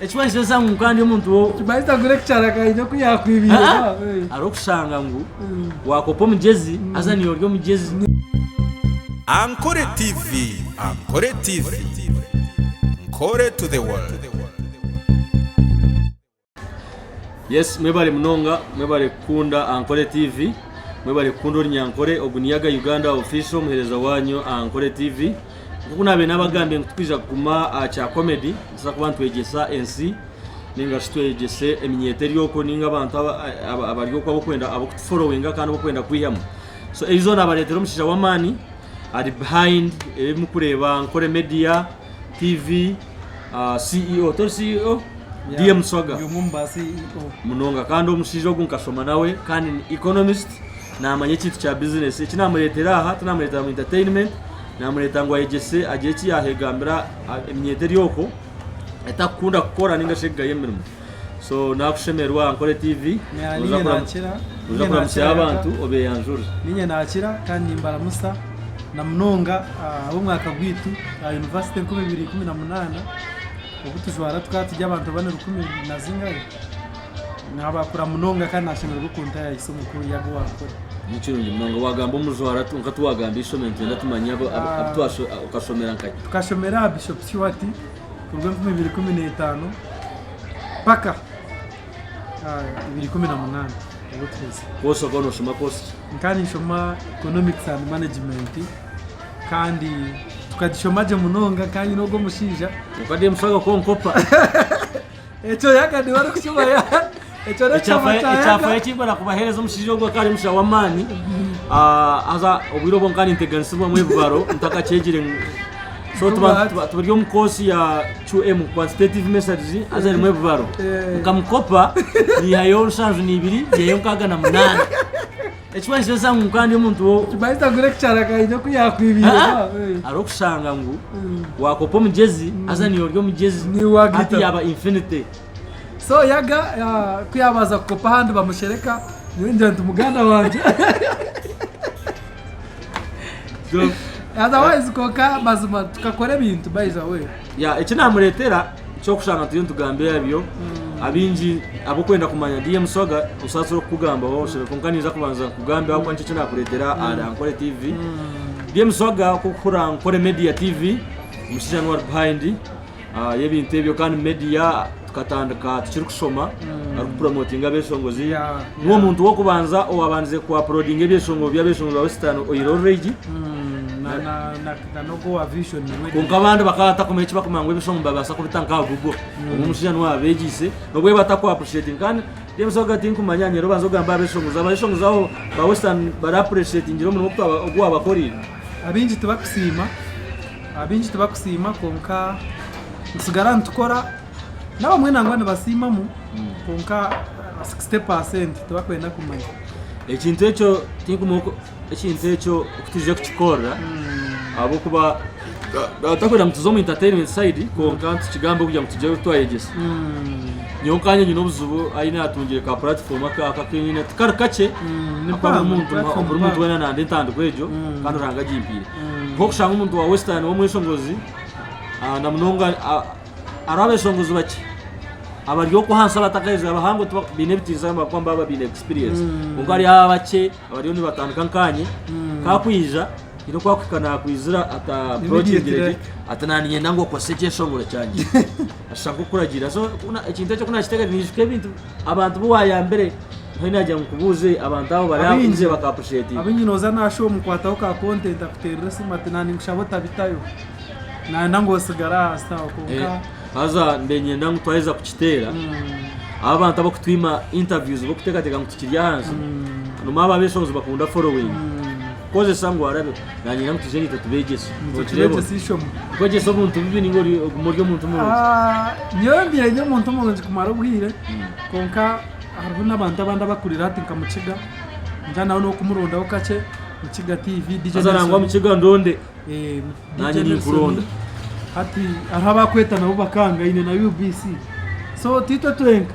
Ekimanyitso esa ngu kandi omuntu wo Kimanyitso agura ekicaraga aine oku yakwibire. Ah, ah. Eh. hariho okushanga ngu wakopa omugyezi haza niiwe ori omugyezi Ankore TV Ankore TV Nkore to the world Yes mwebale munonga mwebale kukunda Ankore TV mwebale kukunda orinyankore ogu niyaga Uganda official omuhereza wanyu Ankore TV Nk'oku naabaire naabagambire ngu titwija kuguma aha kya komedi, nitubaasa kuba nitwegyesa ensi nainga shi twegyese eminyeeto eri okwo nainga abantu abari okwo abarikwenda ab'okutuforowinga kandi abarikwenda kwihamu. So egi zoona naabareetera omushaija w'amaani ari behind ebi murikureeba Nkore Media, tiivi, ah, CEO tori CEO Yeah. DM Swaga Ndi omwe omu ba E CEO. munonga kandi omushaija ogu nkashoma nawe kandi ni economist namanya ekintu kya business eki namureetera aha tinamureetera mu entertainment namureeta ngu ayegyese agire eki yahegambira ah, eminyeeto eri okwo etakukunda kukora ninga shi ekugaya emirimo So nakushemerwa aha Nkore TV noza kuramukya abantu obeyanjure. Ninye nakira kandi nimbaramusa na munonga abomwaka gwitu aha University enkumi ibiri ikumi na munana obutujwara tukaba turi abantu abari rukumi na zingahe nabakura munonga kandi nashemererwa okuntayayo ise omukuru yaaba owankore. Nikirungi munonga wagamba omujwara kwonka tiwagambire ishomero nitwenda tumanye abu twashomera. Tukashomera aha Bishop Kiwati. kuruga enkumi ibiri ikumi n'etaano mpaka ibiri ikumi na munaana obu orikuhitsya. Koosi okaba nooshoma koosi ki? Nkaba ninshoma Economics and Management kandi tukagishoma gye munonga nkaba nyine ogwo omushaija. Obukade mushango konkopa. Ekyo Yaga niwe orikushuma Yaga. Ekyo n'ekyama kya Yaga. Ekyafayo eki nkwenda kubaheereza omushaija ogu akaba ari omushaija w'amaani ah, haza obwire obwo nkaba ninteganisibwamu ebibaro ntakakyegire ngu- so tuba- Right. tuba- turi omu koosi ya QM quantitative messages haza erimu ebibaro Eh. nkamukopa niihayo nshanju niibiri niihayo nkaaga na munaana Eki waayeshesha ngu nka ndi omuntu wo- Baita gure ekicarakaine ku yaakwibiire Ha? ba, eh. hariho okushanga ngu waakopa omugyezi haza niiwe ori omugyezi Niiwe waagita. hati yaaba infinity so yaga ah, ku yaabaasa kukopa ahandi bamushereka nyowe ningira nti muganda wangye Otherwise kwonka mazima tukakora ebintu by the way Ya eki namuretera kyokushanga turiyo nitugamba ebyo abingi abokwenda kumanya DM Swaga osatsire okukugambaho oshebe konka ninza kubanza nkugambe ahabwokuba nikyo eki nakuretera ahari Ankore TV DM Swaga kokuhurira Ankore Media TV omushaija nuwe ari behind ah, yebintu ebyo kandi media Tukatandika tukirikushoma arikupromotinga abeshongozi niwe omuntu w'okubanza owaabandize kuapurodinga ebyeshongoro by'abeshongozi ba Western Oil Already kwonka abandi bakaba batakumanya eki bakumanya ngu ebishongo nibabaasa kubita nk'aha Google hmm. obwo omushaija niwe waabeegiise nobwo batakuappreciating kandi James Oga tinkumanya nyera obanza ogamba abeshongozi abeshongozi abo ba Western baraappreciatingire omurimo ogu waabakoreire abaingi tibakusiima Abaingi tibakusiima kwonka nitusigara nitukora, n'abamwe nangwa nibasiimamu kwonka 60 pa senti tibakwenda kumanya. Ekintu ekyo tinkumanya oku ekintu ekyo oku twije kukikorera ahabw'okuba ga- ga- takwenda ngu tuze omu entertainment side kwonka nitukigambe kugira ngu tugire oku twayegyesa. Nyowe nkanye nyine obuzibu ahi naatungire ka platform aka aka aku nyine tikari kakye ni ahakuba buri mpango, muntu- platform buri muntu mpango. weena nande entandikwa egyo kandi Ruhanga agimpaire. nk'okushanga omuntu wa Western w'omweshongozi ah, na munonga ah, hariho abeshongozi bakye abari okwo ahansi abatakaheza abahango tiba- baine ebitiinisa gamba kuba baba baine experience kwonka hariho abakye abariyo nibatandika nkanye kakwija haine oku akuhika nakwizira ata approachingire gye Immediately. ati naninyenda ngu okozese ekyeshongoro kyangye ashusha nk'okuragira so kuna- ekintu ekyo kunakitegereza niijuka ebintu Abantu bu wayambire mbwenu yagira ngu nkubuuze abantu abo bari aho ije baka appreciatinga. Abingi noza nashwa omukwataho ka content akuterera esimu ati na ninkushaba otabitayo nayenda ngu osigare ahansi aho kwonka Haza ndenyenda ngu twaheza kukiteera abo abantu abakutwima interviews bokutekateka ngu tukiri ahansi nomu abo abeshonzi bakunda following. kukozesa ngu arabeho nanyenda ngu tuze naitwe tubegyese Nokireeba ota? kwegyesa obuntu bubi ninga ori- oguma ori omuntu murungi Ah, nyowe mbiire ndi omuntu murungi kumara obwire kwonka hariho n'abantu abandi abakurira hati nka mukiga ningira nawe n'okumurundaho kakye mukiga tv DJ haza nangwa Nelson. mukiga ndonde Eh, DJ Nanye Nelson. ninkuronda. hati hariho abakweta nabo bakanga ine na ubc so tiitwe twenka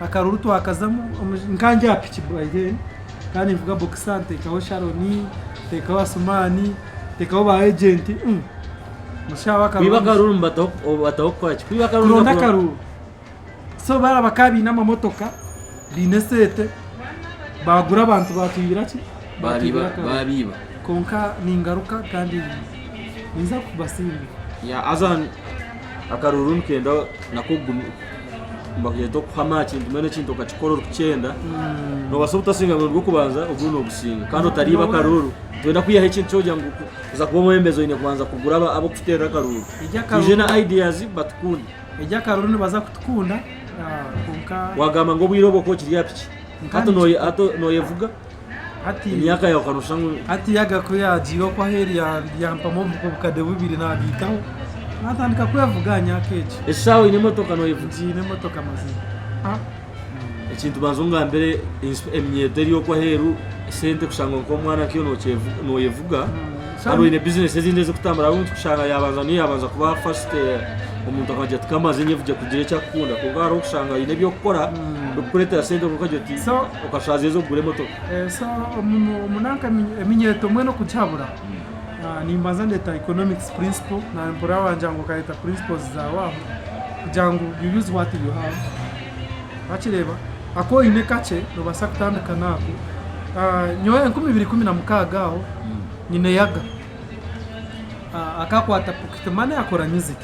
Akaruru twakazamu nkandi aha piki by then nkaba ninvuga boxer ntekaho Sharon ntekaho Asuman ntekaho ba agent kwiba akaruru nibataho kukoraki kwiba akaruru kuronda akaruru so baraba ka baine amamotoka baine esente bagura abantu batwibira ki babiba kwonka ningaruka kandi ninza kubasimbira akaruru nikenda nako Nibakureeta okuhama aha kintu mbwenu ekintu okakikora orikukyenda nobaasa obutasinga murundi gw'okubanza oguri nogusinga kandi otariiba akaruuru noyenda kwihaho ekintu kyogira ngu kuza kuba omwebembezi oyine kubanza kugura ab'okukuteerera akaruuru twije na ideas batukunde egyo akaruuru nibaza kutukunda ah, kwonka wagamba ngu obwire obwo okwo okiri aha piki hati noyevuga emyaka yaawe okareba nooshusha ngu Hati yaga ku yaagiire okwo aheeri ya- yampamu obu- obukade bubiri naabiitaho naatandika kwevuga aha myaka egi eshaaha oine emotoka nooyevuga ngiine emotoka mazima Ah, ekintu banza ongambire ensp- eminyeeto eri okwo aheeru sente kushanga ngu nk'omwana nkaiwe nookyevu- nooyevuga kandi oine bizinesi ezindi ezirikutambura ahabw'enki kushanga yaabanza niyo yaabanza kuba first eh, omuntu akagira ati kamaze nyevugye kugira eki arikukunda kwonka hariho okushanga oine eby'okukora ebikukureetera sente kwonka okagira oti so Okashaaza ezo kugura emotoka? So omu nanka eminyeeto mbwenu okugihabura nimbanza ndeta economics principle na mpurira wangira ngu okareta principles zaawe aho kugira ngu you use what you have wakireeba aku oine kakye nobaasa kutandika naako nyowe enkumi ibiri ikumi na mukaaga aho nyine yaga akakwaata pocket money akora music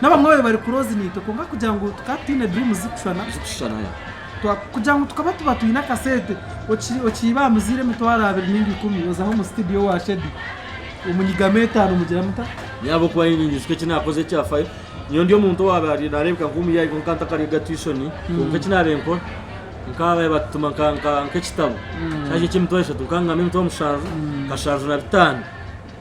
Nabamwe babaire bari close naitwe kwonka kugira ngu tukaba tutaine dream zikushushana kugira ngu tukaba tuba twine akasente okiiba aha muzaire emitwaro abiri ninga ikumi ozaho omu studio wa shedi omunyigamu etano mugira muta yaba okuba ninyingi zika ekinakoze ekyafayo nyowe ndi omuntu owabaire narebeka nka omuyayi kwonka ntakarega tuition hmm. kwonka ekinabaire nkora nkabaye batutuma nk'ekitabo hmm. shaje eky'emitwaro eshatu nkangamba emitwaro mushanju hmm. kashanju na bitaano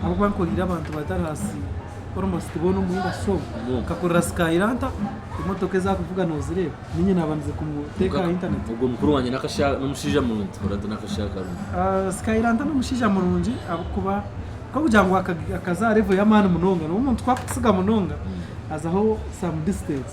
Ahabw'okuba nkoreire abantu bataraasi almost boona omu industry omu, nkakorera sky lanta, emotoka ezi arikuvuga noozireeba? Niinye naaba nize kumuteeka aha internet. Ogwo mukuru wangye n'akashaho, n'omushaija murungi, orati n'akashaho karungi. Sky lanta n'omushaija murungi ahabw'okuba k'okugira ngu akaza aha level y'amaani munonga, nobu omuntu ku arikukutsiga munonga azaho some distance.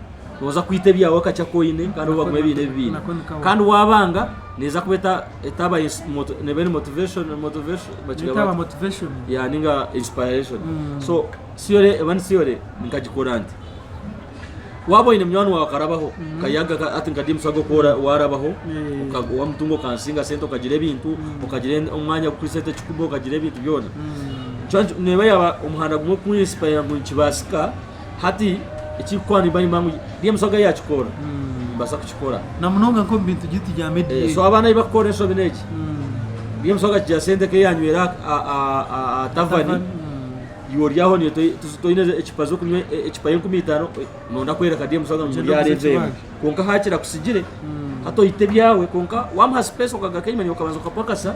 Nooza kwita ebyawe akakye aku oine kandi obu bakuba ebiine ebibiina. Kandi waabanga, neeza kuba eta- etaba ins- mot- neeba eri motivation, motivation, bakigamba Neetaba bati? motivation. ya ninga inspiration so theory eba ni theory nkagikora nti waaba oine munywani waawe akarabaho kayaga ka- hati nka James Ago ku ora- waarabaho Eh. oka- wamutunga okansinga sente okagira ebintu okagira en- omwanya ku sente ekikuba okagira ebintu byona Nikyo nki- neeba yaaba omuhanda gumwe ku inspire ngu nikibaasika Hati ekirikukwata nimba nimba ngu DMC oga yakikora nibasa kukikora na munonga nk'omu bintu giti bya media Eh, so abaana ei bakukora enshobi n'egi DMC oga kigira sente eke yanywera aha- aha- aha- aha aha tavani tavern, mm. iwe oryaho niyo toi- tuzi- toine ecupa z'okunywa e- ecupa y'enkumi itaano eh, nonda kwereka DMC oga ngu Gyenda oguze oryareeba emu ekibanja. kwonka hakira kusigire hati oite ebyawe kwonka wamuha space okagaruka enyima niwe okabanza okapakasa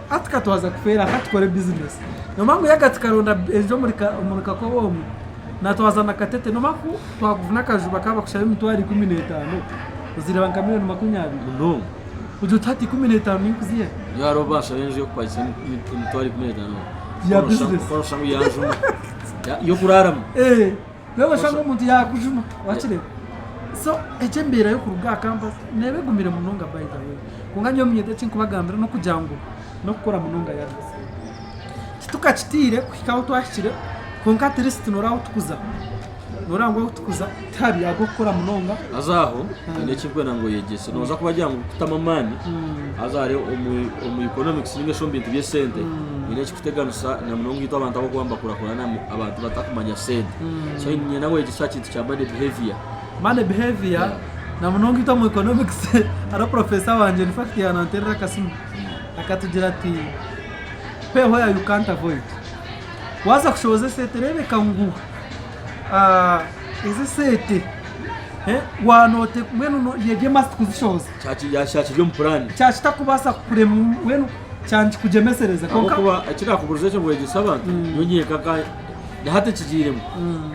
Hati ka twaza kufeera ka tukore bizinesi. Noomanya ngu yaga tikaronda eriri omuri kakobe omu, na twaza na katete. Noomanya ku twakufuna akaju bakaba bakushabe emitwaro ikumi n'etaano, ozireeba nka milioni makumi abiri. Munonga. Ogira oti hati ikumi n'etaano ninkuziha ehi? Nyowe hariho obu banshaba enju y'okupakiisa emitwaro ikumi n'etaano. Ya bizinesi. Kwonka noshanga oyiha nju emwe y'okuraaramu. Eeh. Reero oshanga omuntu yaakujuma waakireba. So egi embeera y'okuruga aha kampasi neeba egumire munonga by the way. Kwonka nyowe omunyete eki nkubagambira n'okugira ngu n'okukora munonga yad. Titukakitiire kuhika ahu twahikire kwonka at least nooreeba ahu turikuza. Nooreeba ngu ahu turikuza tihabi ahabw'okukora munonga. Haza aho haine eki ndikwenda ngu oyegyese. Noobaasa kubagira ngu kutamu amaani haza hariho omu omu economics ninga shi omu bintu by'esente haine eki Kuteganisa na munonga itwe abantu ab'okuba nibakuurakurana abantu batakumanya sente. So niinyenda ngu oyegyese aha kintu kya money behaviour. Money behaviour, na munonga itwe omu economics hariho professor wangye in fact yaananteerera akasimu akatugira ati, Pay where you can't avoid. Waaza kushohoza esente reebeka ngu ezi esente waaba noote, mbwenu yegye must kuzishohoza. Kyakiri omu puraani. Kyakitakubaasa kukurema mbwenu kyandikugyemesereza. Ahabw'okuba ekindakuburiza ekyo ngu wegyese abantu, nyowe nyenka nka na hati nkigiiremu.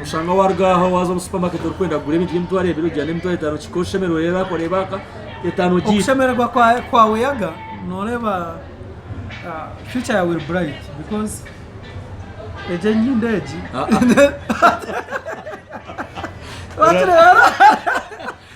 Oshanga waaruga aha waaza omu supamaketi orikwenda kugura ebintu by'emitwaro ebiri ogira n'emitwaro etaano okihika oshemererwa oreeba yaaka oreeba yaaka etaano ogiita. Okushemererwa kwawe yaga nooreeba future yaawe eri burayiti bikozi egi enyindo egi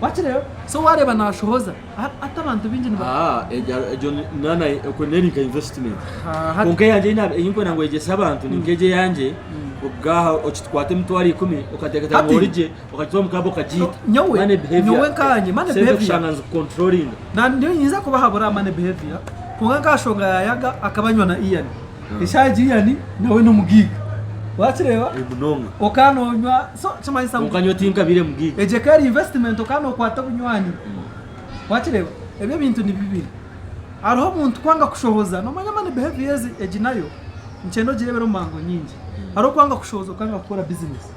Wakireeba? So waareeba naashohoza a- ati abantu baingi niba- Ah, egyo egyo ni- na- na- okwo neri nka investment Ah, hati- kwonka eyangye eyi na- eyi nkwenda ngu ogyese abantu ni nk'egi eyangye obwaha okikwata emitwaro ikumi okateekateeka ngu Hati- origye okagitwara omu club okagiita So, nyowe- Money behaviour. nyowe nkanye, money Sente behaviour. kushanga nizikucontrollinga Na- niyo nyinza kubahabura money behavior kwonka nk'aha shonga ya yaga akaba anywa na ian Eshaaha Gillian nawe n'omugiiga wakireeba okaba noonywa so kimanyisa ngu kwonka nyowe tinkabaire mugiiga egyo ekaba eri investment okaba nookwata obunywani wakireeba ebyo ebintu ni bibiri hariho omuntu kwanga kushohoza noomanya money behaviours egi nayo nikyenda ogireebere omu mango nyingi hariho okwanga kushohoza okanga kukora business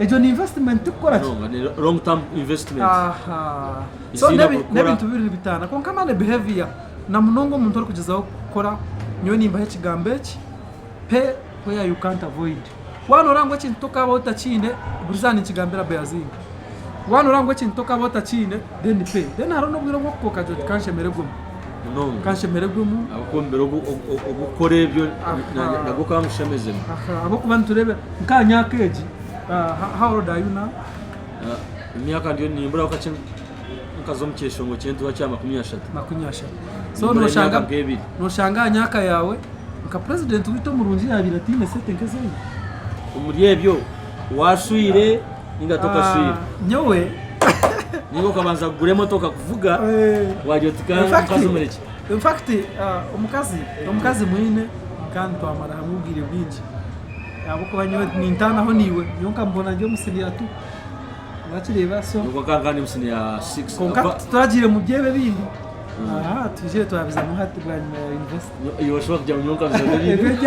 egyo ni investment tikukora ki munonga ne long term investment aha so Eziine nebi- kukora. n'ebintu bibiri nibitaana kwonka mani behavior na munonga omuntu orikugyezaho kukora nyowe nimbaho ekigambo eki pay where you can't avoid waaba nooreeba ngu ekintu tokaabaho otakiine buri izooba ninkigambira Bayazinga Waaba nooreeba ngu ekintu okaba otakiine, then pay. Then hariho n'obwire obw'okupa okagira oti kanshemererwemu. Munonga. Kanshemererwemu. Ahabw'okuba omubiire ogu okukora ebyo nagwo okaba ngushemezemu. Ahabw'okuba nitureeba nk'aha myaka egi, how old are you now? Emyaka ndiyo nimburaho kakye nkaza omu kyeshongo ky'entuura kya makumi ashatu. Makumi ashatu. So nooshanga nooshanga aha myaka yaawe nka purezidenti waitu omurungi yaabaire ataine sente nk'ezi oine? Omuri ebyo, waashwire. ninga tokaswire nyowe ninga okabanza kugura emotoka kuvuga wari oti omukazi omureki infact uh, omukazi omukazi mwine kandi twamara hamwe obwire bwingi ahabwokuba nyowe nintaanaho niiwe nyowe nkamubona ndi omusiniya tu wakireeba so okankandi omusini ya 6 konka turagiire mu byebe bindi aha twijire twabizamu hati bwanyima ya university yoshobora kugira ngu nyowe nkabizamu ebindi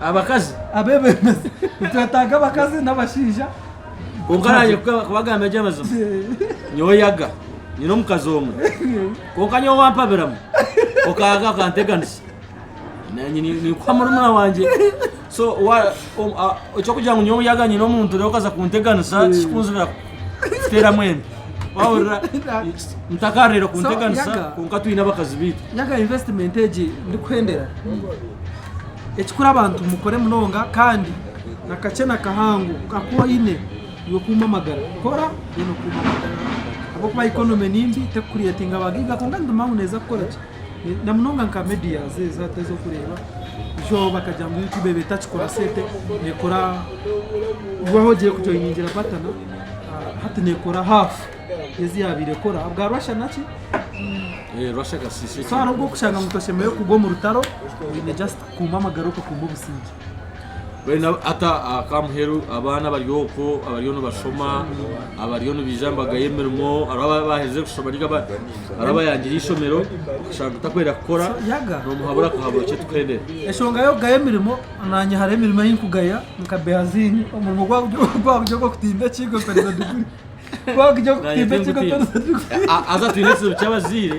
abakazi abebembezi nitwetaaga abakazi n'abashaija kwonka naanye kubagambira gye amazima nyowe yaga nyine omukazi omwe kwonka nyowe wampabiramu okaga okanteganisa nikuha murumuna wangye so ekyokugira ngu nyowe yaga nyine omuntu rero okaza kunteganisa tikikunzibiraho Teera mwembi. Wahurira mutakaarire kunteganisa Yaga. kwonka twine abakazi baitu. Yaga investment egi ndikuhendera ekikuru abantu mukore munonga kandi nakakye nakahango kwonka ku oyine iwe kuuma amagara kora then okuume amagara ahabw'okuba economy nimbi tekucreatinga ba giga kwonka ninduma ngu neeza kukoraki na munonga nka medias ezo hati ezokureeba byo bakagira ngu youtube eba etakikora sente nekora waaba ogire kujoiningira patana ah, hati nekora half yezi yaabaire ekora ahabwa rwasha naki Eh, rwasha kasisi so hariho obwokushanga ngu toshemereire kugwa omu rutaro oine just Kuumba amagara okakuumba obusingye. Mbwenu hati aka muheru abaana abari okwo abariyo nibashoma abariyo nibaija aha mbaga y'emirimo hariho ababa baaherize kushoma ninga bariyo bayangire eishomero okashanga otakwenda kukora noomuhabura akahabura okye tukuhendera. Enshonga y'okugaya emirimo, naanye hariho emirimo ei nkugaya nka behaziini omurimo ogu waakugya ogw'okutimba ekiigo mperize diguri. Ku waakugira ogw'okutimba ekiigo mperize diguri. Haza twine ekizibu ky'abazaire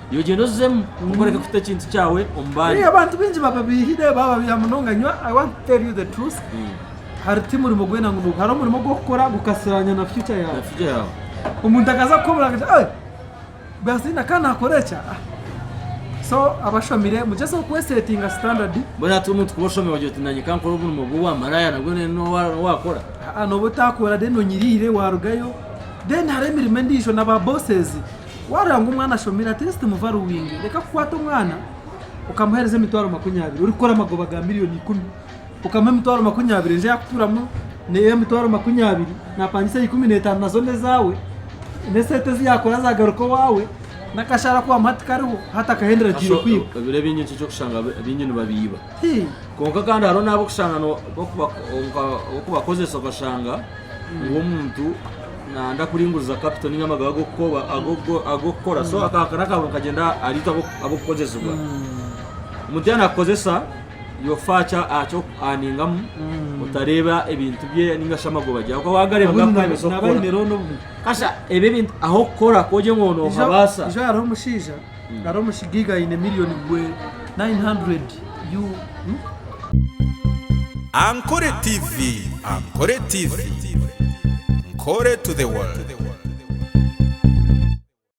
Yogyera ozemu okoreka kuta ekintu kyawe omu bandi. Abantu baingi baba baihire, baba baiha munonga nyo. I want to tell you the truth. Hari ti murimo gwena ngu nugu. Hariho omurimo ogu okukora gukasiranya na future Na yaawe. future yaawe. Omuntu akaza kukobora akati Hey! Basi na ka nakora eki a. So abashomire mugyeze okwesetinga standard. Mbwenu hati omuntu kuba oshomire ogira oti nanye kankore omurimo gw'obwa maraya nabwo ne nowa nowakora. Haa noba otakora then onyirire warugayo. Then hariho emirimo endijo na ba bosses. Waaroora ngu omwana ashomire ati ensi timuva ruwingi, reka kukwata omwana okamuheereza emitwaro makumi abiri orikukora amagoba ga milioni ikumi, okamuha emitwaro makumi abiri enju yaakutuuramu n'ey'emitwaro makumi abiri naapangisa ya ikumi n'etaano nazo n'ezaawe, n'esente ezi yaakora zaagaruka owaawe, n'akashaara aku waamuha tikariho, hati akahendera ataine kwiha. Ebiro ebingi nikyo orikushanga beinyini babiiba. Kwonka kandi hariho n'abu orikushanga oku bakozesa okashanga ngu omuntu nayenda kuringuriza kapito ninga amagara ag'okukora so akahakana akaba nikagyenda ahari itwe ab'okukozesibwa. Omuntu yaaba naakukozesa ofa aha ningamu otareeba ebintu bye ninga shi amagoba ge ahabw'okuba waagareba gaba gaabaasa kukukora. Kasha ebi ebintu ah'okukora ku ogire ngu noohabaasa. Nari omusigiga aine million gwe 900 Ankore TV Ankore TV Nkore to the world.